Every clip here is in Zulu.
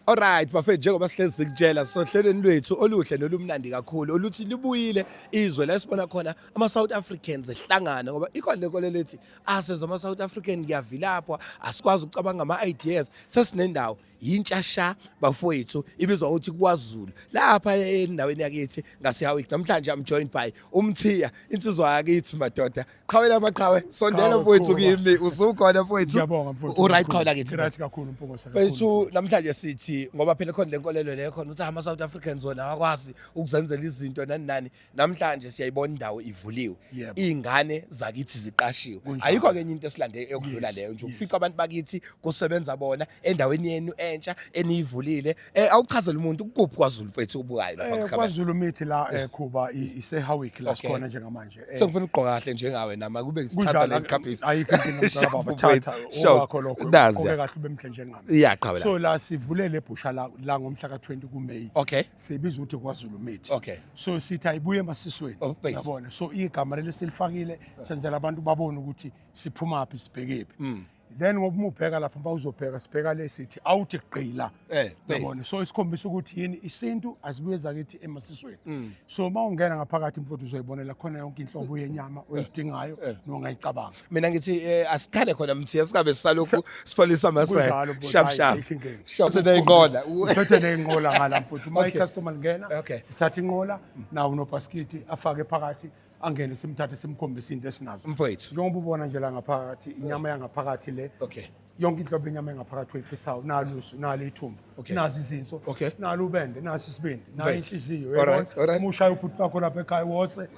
Alright bafethu njengoba sihlezi sikutshela sohlelweni lwethu oluhle nolumnandi kakhulu oluthi libuyile izwe la sibona khona ama South Africans ehlangana ngoba ikhona lenkolelo lethi asenza ama South African kuyavilapha asikwazi ukucabanga ama ideas sesinendawo yintshasha bafowethu ibizwa ukuthi kwaZulu lapha endaweni yakithi ngaseHowick namhlanje I'm joined by umthiya insizwa yakithi madoda qhawe lamaqhawe sondela Qhawe, mfowethu qhuba. kimi usukhona mfowethu Ngiyabonga mfowethu. Uright kakhulu. khona kithi. Right kakhulu mpokosa. Bethu namhlanje sithi ngoba phela khona lenkolelo leyo khona ukuthi ama South Africans wona akwazi ukuzenzela izinto nani nani namhlanje siyayibona indawo ivuliwe Yebo. ingane zakithi ziqashiwe Kunjalo. ayikho kenye into esilande eyokudlula Yes, leyo nje yes. ufica abantu bakithi kusebenza bona endaweni yenu entsha eniyivulile Eh awuchazela umuntu kuphi kwaZulu mfethu ubukayo lapha Eh, kukhaba. KwaZulu mithi la eh, Khuba i- iseHowick la Okay. sikhona njengamanje. Eh, Sengifuna ukugqoka kahle njengawe nama kube ngisithatha kunjalo, le ngiqhaphisa. ayikho inkinga mntwana Shabu baba mfethu. thatha Shabu. owakho lokho Nazi ugqoke ya. kahle ube mhle njengami. Iyaqhawe la. So la sivulele ibhusha la la ngomhla ka20 kuMay. Okay. Sibiza ukuthi kwaZulu mithi. Okay. So sithi ayibuye emasisweni. Oh, base. Yabona. So igama leli silifakile senzela abantu babone ukuthi siphuma phi sibhekephi. Mm. then ngoba umubheka lapha mba uzobheka sibheka le sithi awuthi gqila eh yabona so isikhombisa ukuthi yini isintu asibuye zakithi emasisweni mm. so uma ungena ngaphakathi mfowethu uzoyibonela khona yonke inhlobo yenyama eh. oyidingayo eh. nongayicabanga mina ngithi eh, asikhale khona mthiya singabe sisalokhu sipholisa amasela shap shap shaphe neyinqola uphethe neyinqola ngala mfowethu uma icustomer lingena ithatha inqola nawo nobhaskiti afake phakathi angene simthathe simkhombise into esinazo mfowethu njengoba ubona nje la ngaphakathi inyama yangaphakathi le okay yonke inhlobo yenyama engaphakathi oyifisayo nalusu nalo ithumba okay. nazi izinso okay. nalo ubende nasi isibindi nayo inhliziyo umushaya ubhuti bakho lapha ekhaya wose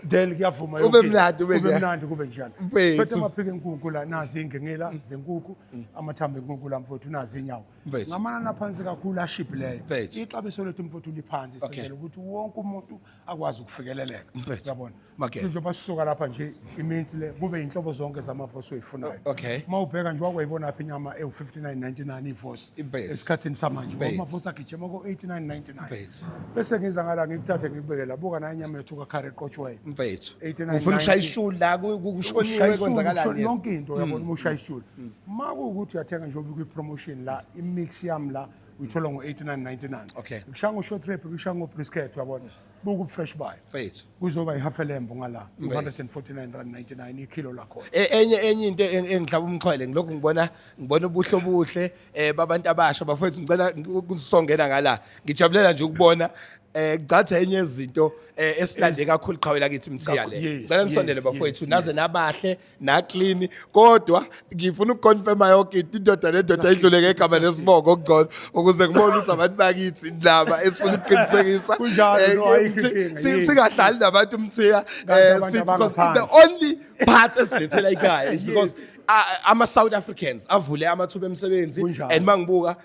then kuyavuma ube mnandi ube nje mnandi kube njani phethe amaphike enkukhu la nazi ingengela mm. zenkukhu mm. amathambo enkukhu la mfowethu nazi inyawo ngamanani aphansi kakhulu ashibhileyo ixabiso lethu mfowethu liphansi senzela ukuthi wonke umuntu akwazi ukufikeleleka Mfethu. uyabona Makela. sizoba sisuka lapha nje iminsi le kube inhlobo zonke zamavosi oyifunayo O- okay. uma ubheka nje wakwayibona phi inyama ewu-5999 ivosi Impethu. esikhathini samanje Impethu. amavosi agijima ko-8999 Impethu. bese ngiza ngala ngikuthathe ngikubeke la buka nayo inyama yethu kakhare eqotshwayo mfethu 89, ufuna ukushaya 90. ishuli la ku- ku- kushoniwe Ushaya isulu, kwenzakalani ushona yes. Mm. yonke into uyabona uma ushaya isulu uma kuwukuthi uyathenga njengoba kwi-promotion la i-mix yami la uyithola ngo-89 Okay. kushaya ngo-short rep kushaya ngo-brisket uyabona buku fresh buy Mfethu. kuzoba ihalf elembo ngala Mfethu. 249 rand 99 ikilo lakhona E- enye enye into eng- engihlaba umxhwele ngilokhu ngibona ngibona ubuhle obuhle eh babantu abasha bafethu ngicela kusongena ngala ngijabulela nje ukubona eh ngicatha enye yezinto eh esilande kakhulu qhawela kithi mthiya le Kakhulu, yes, ngicela nisondele yes, bafethu yes, naze yes. nabahle naklini kodwa ngifuna ukuconfirma yonke into indoda nendoda idlule ngegama nesibongo okugcono ukuze ngibone ukuthi abantu bakithi indaba esifuna ukuqinisekisa Kunjalo, Eh, no, ayikho umthi- inkinga, si- yini. singadlali nabantu umthiya Kanti eh, abantu sithi because the abangaphansi. only part esilethela ikhaya is because a- ama-south africans avule amathuba emsebenzi Kunjalo. and mangibuka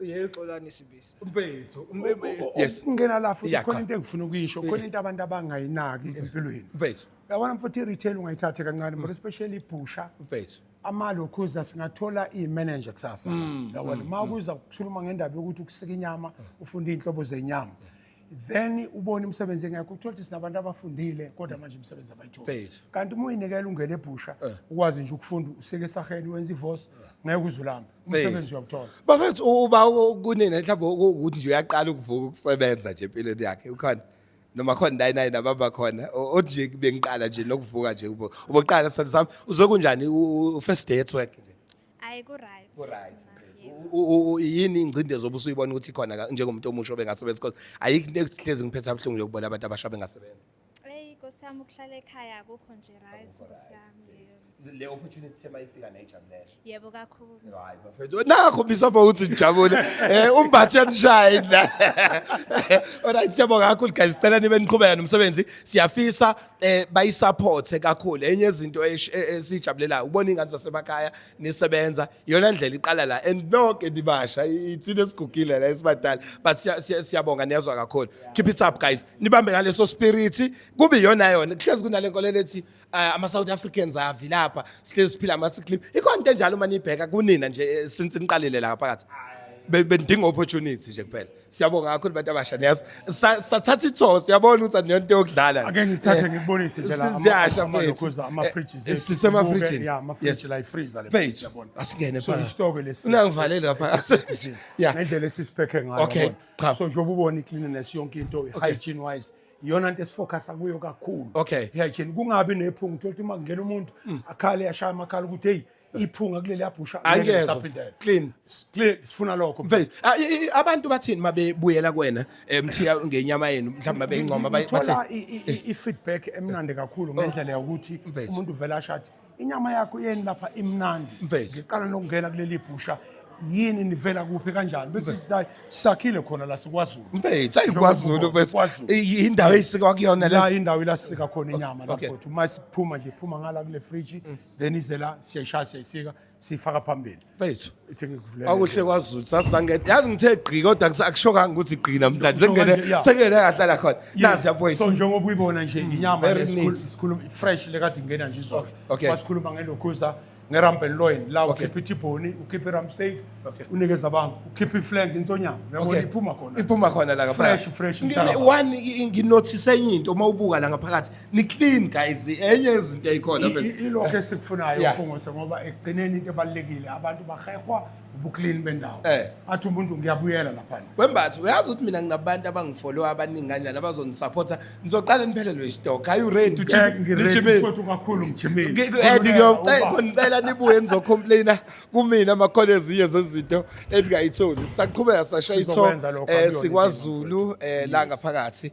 Yes. Xolani Sibisi. Mfethu, umbebethu. Yes. Ungena la futhi Yeah, khona cha. into engifuna ukuyisho, khona into abantu abangayinaki empilweni. Mfethu, Yabona mfuthu i-retail ungayithathe kancane, but especially ibhusha. mfethu. amalokhuza singathola i-manager kusasa yabona uma kuza kukhuluma ngendaba yokuthi ukusika inyama ufunda iy'nhlobo zenyama then ubone imisebenzi engekho uthola ukuthi sinabantu abafundile kodwa manje imisebenzi abayitholi Base. kanti uma uyinikela ungene ebhusha Eh. ukwazi nje ukufunda usike esaheni wenza ivosi ngeke uzulamba umsebenzi uyawuthola bafethu u- uba u- kunina mhlawumbe uku- ukuthi nje uyaqala ukuvuka ukusebenza nje empilweni yakhe ukhona noma khona naye naye nababa khona o- othi nje bengiqala nje nokuvuka nje ubo- uboqala sithando sami uzokunjani u- u- u-first day at work nje Ayi ku right. Ku right. Yini ingcindezi obusuyibona ukuthi khona ka- njengomuntu omusha obengasebenzi because ayikho next hlezi ngiphetha ubuhlungu nje ukubona abantu abasha bengasebenzi. Eyi Nkosi yami ukuhlala ekhaya akukho nje right Akukho Nkosi right, yami. yes. yebo. Le opportunity thema ifika nayijabulela. Yebo kakhulu. Hayi bafethu nakho bisapho uthi nijabule. Eh umbathi uyanishaya la. Alright siyabonga kakhulu guys sicela nibe niqhubeka nomsebenzi. Siyafisa eh bayisupporte kakhulu enye izinto esh- e- esijabulelayo ukubona ingane zasemakhaya nisebenza iyona ndlela iqala la and nonke nibasha i- ithina esigugile la esibadala but siya- siya- siyabonga niyazwa kakhulu keep it up guys nibambe ngaleso spirit kube iyona yona kuhlezi kunale nkolelo ethi eh, ama South Africans avi lapha sihlezi siphila ama clip ikhona into enjalo uma nibheka kunina nje eh, since niqalile la phakathi Be- bendinga opportunity nje kuphela siyabonga kakhulu bantu abasha niyazi Sa- sathatha itho siyabona ukuthi aniyonto yokudlala ake ngithathe ngikubonise nje la ama- siyasha ama- mfethu. lokhuza, ama-fridges Eh, ethu. sisemafrijini. Sibuke, yeah, ama-fridge Yes. la, i-freezer le, Mfethu, siyabona. asingene So, phakathi. isitoko lesi. Unangivalele lapha. Esisebenzisile. Yeah. ngendlela esisiphekhe ngayo Okay, yabona. cha. so njengoba ubona i-cleanliness yonke into i-hygiene wise iyona nto esifocusa kuyo kakhulu Okay. Mm. i-hygiene kungabi nephunga uthole ukuthi uma kungena umuntu akhale ashaya amakhala ukuthi heyi iphunga kuleli abhusha angeza clean clean sifuna lokho mfethu ah, abantu bathini mabebuyela kuwena eh, mthiya ngenyama yenu mhlawumbe babeyincoma bathi i feedback emnandi kakhulu oh. ngendlela yokuthi umuntu uvela ashathi inyama yakho yeni lapha imnandi ngiqala nokungena kuleli bhusha yini nivela kuphi kanjani bese sithi hayi sakhile khona la sikwazulu mfethu ayikwazulu mfethu indawo eyisika kuyona la indawo ilasika khona inyama lapho uma siphuma nje phuma ngala kule fridge mm. then izela siyayishaya siyayisika siyifaka phambili Mfethu. ithi ngikuvulele Akuhle kwaZulu sasangena. Yazi ngithe gqi kodwa kusa- akushokanga ukuthi gqi namhlanje. Kusho kanje, Sengene yeah. sengene kahlala khona. Yes. Nazi so yabuyisa. njengoba uyibona nje inyama very le sikhulu- neat. sikhuluma fresh lekade ingena nje izolo Okay. wasikhuluma ngelokhuza ngeramp and loin la Okay. ukhipha ithibhoni ukhipha iram steak Okay. unikeza abantu ukhipha iflank intonyama uyabona Okay. iphuma khona Iphuma khona la Fresh, fresh, Ngine- mtaka. One i- nginothise enye into uma ubuka la ngaphakathi ni clean guys enye yezinto eyikhona ilokho esikufunayo uphongose ngoba ekugcineni into ebalulekile abantu bahehwa ubuclean bendawo eh. athi umuntu ngiyabuyela laphandle wembathi uyazi ukuthi mina nginabantu abangifollow abaningi kanjani abazongisupporta ngizoqala niphelelwe istock are you ready to chip kakhulu ngicela nibuye nizocomplaina kumina amakhona ezinye zezinto endingayitholi sisaqhubeka sasha itho eh, sikwazulu eh, la ngaphakathi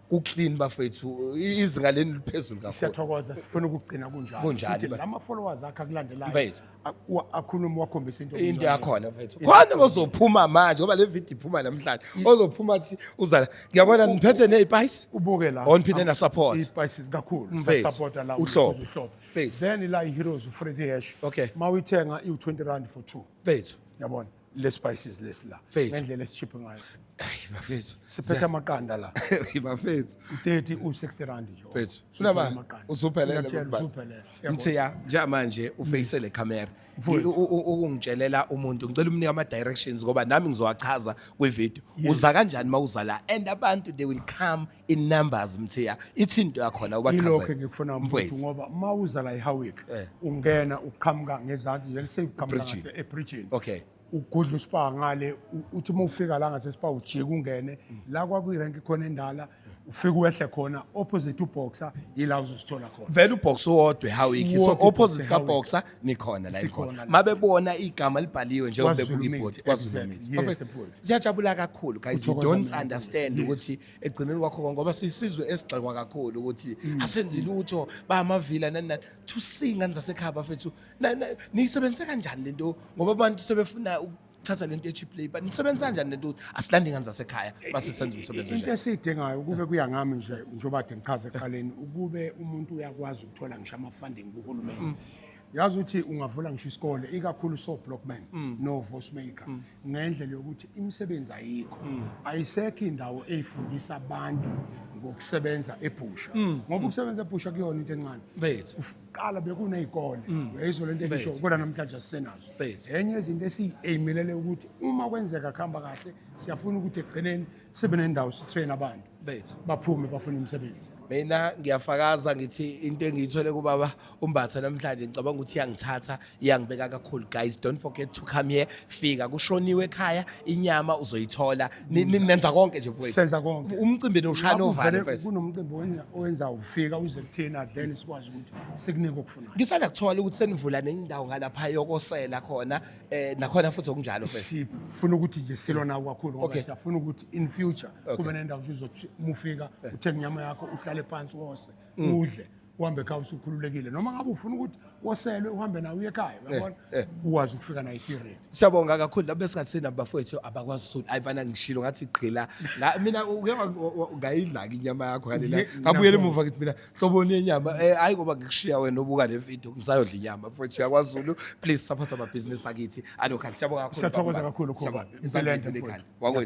ku clean bafethu izinga leni liphezulu kakhulu siyathokoza sifuna ukugcina kunjalo kunjalo Futhi lama followers akhe akulandelayo Mfethu. a- wa- akhulume wakhombisa into into yakhona mfethu khona ozophuma manje ngoba le video iphuma namhlanje ozophuma athi uzala ngiyabona niphethe nezipayice ubuke la On phinde na support. ispices kakhulu Mfethu, sasupporta la uhlobo. ukuze uhlobo. Mfethu. then la iheroes ufredi hash Okay. mawuyithenga iwu-20 rand for two mfethu yabona le spices lesi la Faith. ngendlela esishiphe ngayo Ayi bafethu. siphethe amaqanda la Ayi bafethu. 30 u60 rand nje Mfethu. Sulaba Amaqanda. usuphelele Ngiyakutshela, bafethu. usuphelele. Yabo. Mthiya njengamanje ufeyise le camera. Mfowethu. I- u- u- Ukungitshelela umuntu ngicela umnike ama directions ngoba nami ngizowachaza kwi video. Uza kanjani mawuza la and abantu they will come in numbers mthiya ithi into yakhona ilokho ubachazele engikufuna mfowethu Mfowethu. ngoba uma uza la ehowick Eh. ungena uqhamuka ngezansi nje sekuqhamuka Ebridgini. ngase- ebridgini okay ugudla uspa ngale u- uthi uma ufika la ngasespa ujike ungene la kwakuyirenki khona endala ufike uwehle khona opposite uboxer yila uzosithola khona vele uboxer uwodwa ehowick so Uwodwa uBoxer opposite eHowick. kaboxer nikhona la Sikhona ikhona la. mabebona igama libhaliwe njengoba bebuka KwaZulu-Natal, ibhodi KwaZulu-Natal. exactly. Yes, Perfect. mfowethu. siyajabula kakhulu guys you Uthokoza don't mina, understand yes. ukuthi ekugcineni kwakho konke ngoba siyisizwe esigxekwa kakhulu ukuthi Mm. asenzi lutho bayamavila nani nani to sing ngani zasekhaya bafethu Na- na- niyisebenzise kanjani lento ngoba abantu sebefuna uku- thatha lento ye cheap labor nisebenza kanjani lento ukuthi asilande ingane zasekhaya base senza umsebenzi into nje esiyidingayo ukube kuya ngami nje njengoba de ngichaze ekuqaleni ukube umuntu uyakwazi ukuthola ngisho ama-funding kuhulumeni yazi ukuthi ungavula ngisho isikole ikakhulu soblockman novosmaker ngendlela yokuthi imisebenzi ayikho ayisekho indawo eyifundisa abantu ngokusebenza ebhusha ngoba ukusebenza ebhusha kuyona into encane bethu kuqala bekuney'kole mm. uyayizwa le nto engisho kodwa namhlanje asisenazo enye yezinto esiyi-ayimelele ukuthi uma kwenzeka kuhamba kahle siyafuna ukuthi ekugcineni sibe nendawo sitrain abantu baphume bafune imisebenzi mina ngiyafakaza ngithi into engiyithole kubaba umbatha namhlanje ngicabanga ukuthi iyangithatha iyangibeka kakhulu guys don't forget to come here fika kushoniwe ekhaya inyama uzoyithola Ni- ni- nenza konke nje mfowethu senza konke umcimbi niwushaya Lapho novalo vele mfowethu kunomcimbi owenza- owenza ufika uze kuthina then sikwazi ukuthi sikunike okufunayo ngisanda kuthola ukuthi senivula nendawo ngalapha yokosela khona eh nakhona futhi okunjalo mfowethu sifuna ukuthi nje silona kakhulu ngoba Okay. siyafuna ukuthi in future Okay. kube nendawo nje uzothi mufika uthenge inyama yakho uhlale phansi wose udle uhambe ekhaya usukhululekile noma ngabe ufuna ukuthi woselwe uhambe nawe uye ekhaya uyabona eh. uwazi ukufika naye isiredi siyabonga kakhulu labo besingasina bafowethu abakwazi sulu hayi fana ngishilo ngathi gqila Nga- mina uke wa- wa- wa- ngayidlaki inyama yakho yalela Ye- ngabuyela nakho. emuva ngithi mina hloboni yenyama Eh, hayi ngoba ngikushiya wena ubuka le video ngisayodla inyama mfowethu yakwazi sulu please support amabhizinisi akithi anokhani siyabonga kakhulu Siyathokoza Baba Mbatha. kakhulu, Khumalo. Siyabonga. Impela enhle, Impela enhle, mfowethu. wakwethu